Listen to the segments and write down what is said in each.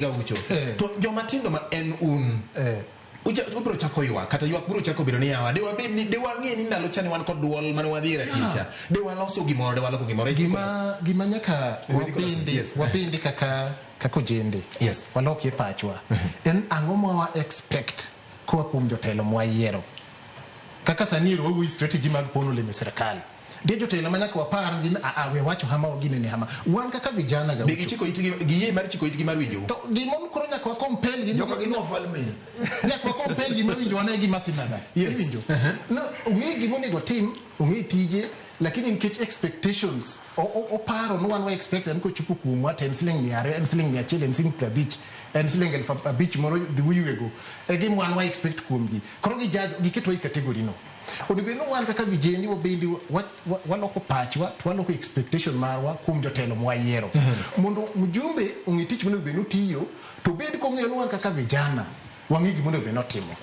gaucho Eh. to joma tindo ma en un Eh. uja- ubiro chako ywak kata ywak biro chako bedo ni yawa de wabed ni de wang'e ni ndalo cha ne wan kod dwol mane wadhi raticha de waloso gimoro de waloko gimoro gima gima nyaka Wedi kolas- wabende yes. wabende kaka kaka ojende Yes. walok e pachwa en ang'o ma wa expect koa kuom jotelo mwayiero kaka sani ero wawuoyi strategy mag pono olemo e sirkal Nitie jotelo ma nyaka wapar ni a a we wacho hama wa ginene hama. Wan kaka vijana ga. Be gichiko itgi giyie mar chiko itgi mar winjou? To gimon koro nyaka wa compel gi Joka gin wafalme. nyaka wa compel gima winjo wan e gima sinana. Yes. Iwinjo. No, ong'e gima onego otim, ong'e tije, lakini nikech expectations, o- o- oparo ni wan wa expect ni kochopo kuomwa to en siling mia ariyo, en siling mia achiel, en siling piero abich, en siling elfu abich moro dhi uyuego. E gima wan wa expect kuomgi. Koro gijudge, giketwa e category no. Onego bed ni wan kaka vijende wabende waloko pachwa to waloko expectation marwa kuom jotelo mwayiero mhm. mondo mjumbe ong'e tich monego bed ni otiyo to bed kong'eyo ni wan kaka vijana wang'e gima onego bed ni otimo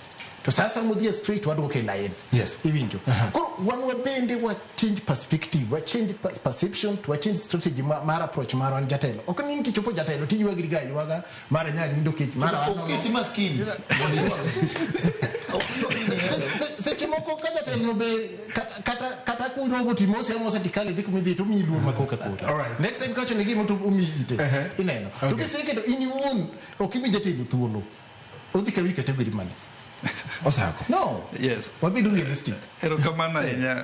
to sasa modhie straight wadwoke e lain yes. iwinjo uh -huh. koro wan wabende wa change perspective wa change perception to wa change strategy mar approach marwa ni jatelo ok ni nkichopo jatelo tiywagrigaywaga Mara nyanya nindo kech, mara wano. Oketi maskini. Se- se- seche moko ka jatelono be kata- kata kata kurogo timose amose tikale dhi kumidhi to omiyi luor makoka kota Alright. next time kawacho ne gimo to omiyi ite Ehe. ineno to Okay. kiseketo in iwuon ok imi jatelo thuolo odhi kawi kategori mane Osako. no Yes. wabedo realistic Erokamano ahinya.